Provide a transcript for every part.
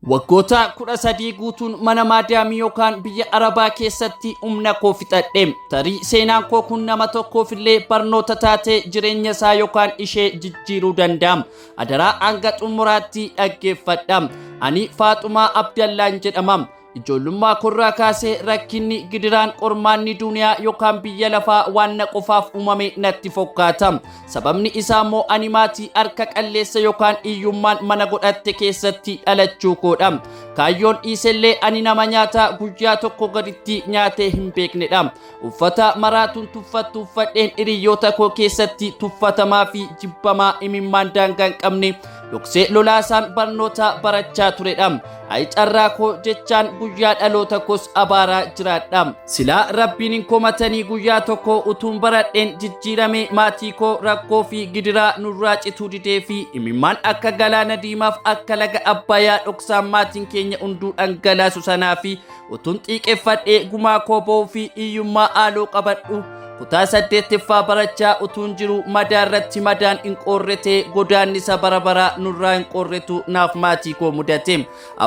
Waggoota kudha sadii guutuun mana maadaamii yookaan biyya arabaa keessatti humna koo fixadhe. Tarii seenaan koo kun nama tokkoof illee barnoota taatee jireenya isaa yookaan ishee jijjiiruu danda'a. Adaraa hanga xumuraatti dhaggeeffadha. Ani Faaxumaa Abdallaan jedhama. Ijoollummaa korraa kaasee rakkinni gidiraan qormaanni duuniyaa yookaan biyya lafaa waan na qofaaf uumame natti fokkaata. Sababni isaa immoo ani maatii harka qalleessa yookaan hiyyummaan mana godhatte keessatti dhalachuu koodha. Kaayyoon dhiisellee ani nama nyaata guyyaa tokko gaditti nyaatee hin beeknedha. Uffata maraatuun tuffattu uffadheen hiriyoota koo keessatti tuffatamaa fi jibbamaa imimmaan daangaa hin qabne Dhoksee lolaasaan barnoota barachaa turedha. Ayi carraa koo jechaan guyyaa dhaloota koos abaaraa jiraadha. Silaa rabbiin hin komatanii guyyaa tokko utuun baradheen jijjiirame maatii koo rakkoo fi gidiraa nurraa cituu didee fi imimmaan akka galaana diimaaf akka laga abbayaa dhoksaan maatiin keenya hunduu dhangalaasu sanaa fi Utuun xiiqeffadhee gumaa koo ba'uu fi hiyyummaa haaloo qabadhu. Kutaa saddeettaffaa barachaa utuun jiru madaa irratti madaan hin qoorrete godaannisa bara baraa nurraa hin qoorretu naaf maatii koo mudate.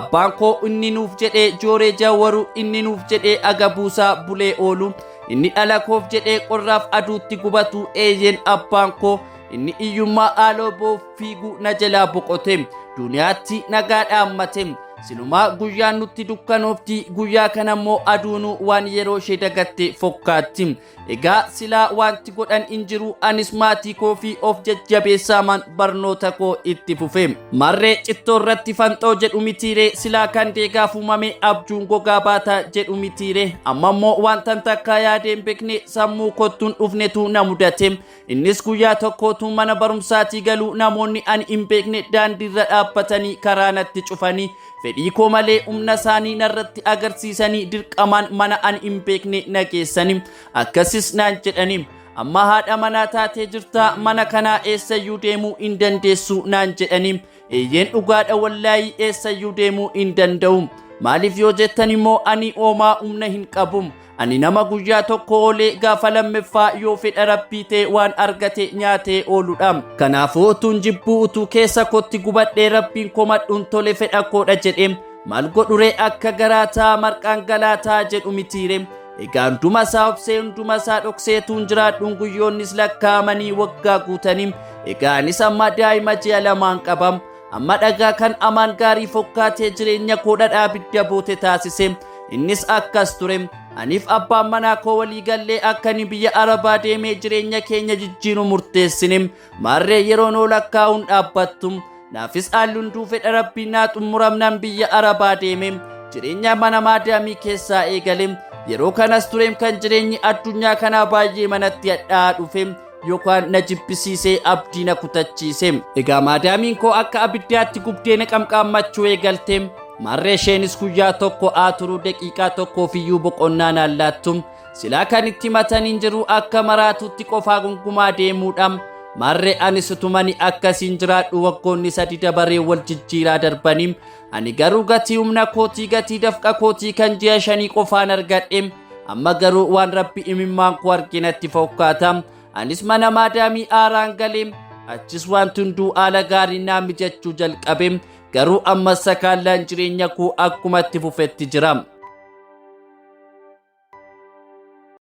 Abbaan koo inni nuuf jedhee jooree jawwaru inni nuuf jedhee aga buusaa bulee oolu inni dhala koof jedhee qorraaf aduutti gubatu eeyyeen abbaan koo inni hiyyummaa haaloo ba'uuf fiiguu na jalaa boqote duniyaatti nagaa dhaammate silumaa guyyaan nutti dukkanoofti guyyaa kana immoo aduunuu waan yeroo ishee dagatte fokkaatti egaa silaa wanti godhan hin jiru anis maatii koo fi of jajjabeessaamaan barnoota koo itti fufe marree cittoo irratti fanxoo jedhu mitiiree silaa kan deegaaf uumame abjuun gogaa baata jedhu mitiiree amma immoo wantan takkaa yaadeen beekne sammuu kottuun dhufnetu na mudate Innis guyyaa tokko utuu mana barumsaatii galuu namoonni ani hin beekne daandiirra dhaabbatanii karaa natti cufanii fedhii koo malee humna isaanii narratti agarsiisanii dirqamaan mana ani hin beekne na geessanii akkasis naan jedhanii amma haadha manaa taatee jirtaa mana kanaa eessayyuu deemuu hin dandeessu naan jedhanii eeyyeen dhugaadha wallaayii eessayyuu deemuu hin danda'u maaliif yoo jettan immoo ani oomaa humna hin qabu Ani nama guyyaa tokko oolee gaafa lammaffaa yoo fedha rabbii ta'e waan argate nyaatee ooludha. Kanaafuu utuun jibbuu utuu keessa kootti gubadhee rabbiin komadhuun tole fedha koodha jedhee maal godhure akka garaataa marqaan galaataa jedhu mitiire. Egaa hunduma isaa obsee hunduma isaa dhokseetuun jiraadhuun guyyoonnis lakkaa'amanii waggaa guutanii. Egaa anis amma daa'ima ji'a lamaan qaba. Amma dhagaa kan amaan gaarii fokkaatee jireenya koo dhadhaa abidda boote taasise. Innis akkas ture. Aniif abbaan manaa koo walii gallee akka inni biyya Arabaa deemee jireenya keenya jijjiiru murteessine. Maarree yeroon ol akkaa'uun dhaabbattu. Naafis haalluun duufe dharabbii naa xumuramnaan biyya Arabaa deeme. Jireenya mana maadaamii keessaa eegale. Yeroo kanas tureem kan jireenyi addunyaa kanaa baay'ee manatti hadhaa'aa dhufe. yookaan na jibbisiisee abdii na kutachiise egaa maadaamiin koo akka abiddaatti gubdee na qamqaammachuu eegalte marree isheenis guyyaa tokko aa turuu daqiiqaa tokkoof iyyuu boqonnaa naan laattu silaa kan itti mataniin jiru akka maraatuutti qofaa gungumaa deemuudha marree anis utumani akkasiin jiraadhu waggoonni sadi dabaree wal jijjiiraa darbanii Ani garuu gatii humna kootii gatii dafqa kootii kan ji'a shanii qofaan argadhe. Amma garuu waan rabbi imimmaan koo arginatti fokkaata. Anis mana maadaamii aaraan galee achis wanti hunduu haala gaarii naa mijachuu jalqabe. Garuu ammas sakaallaan jireenya koo akkumatti fufetti jira.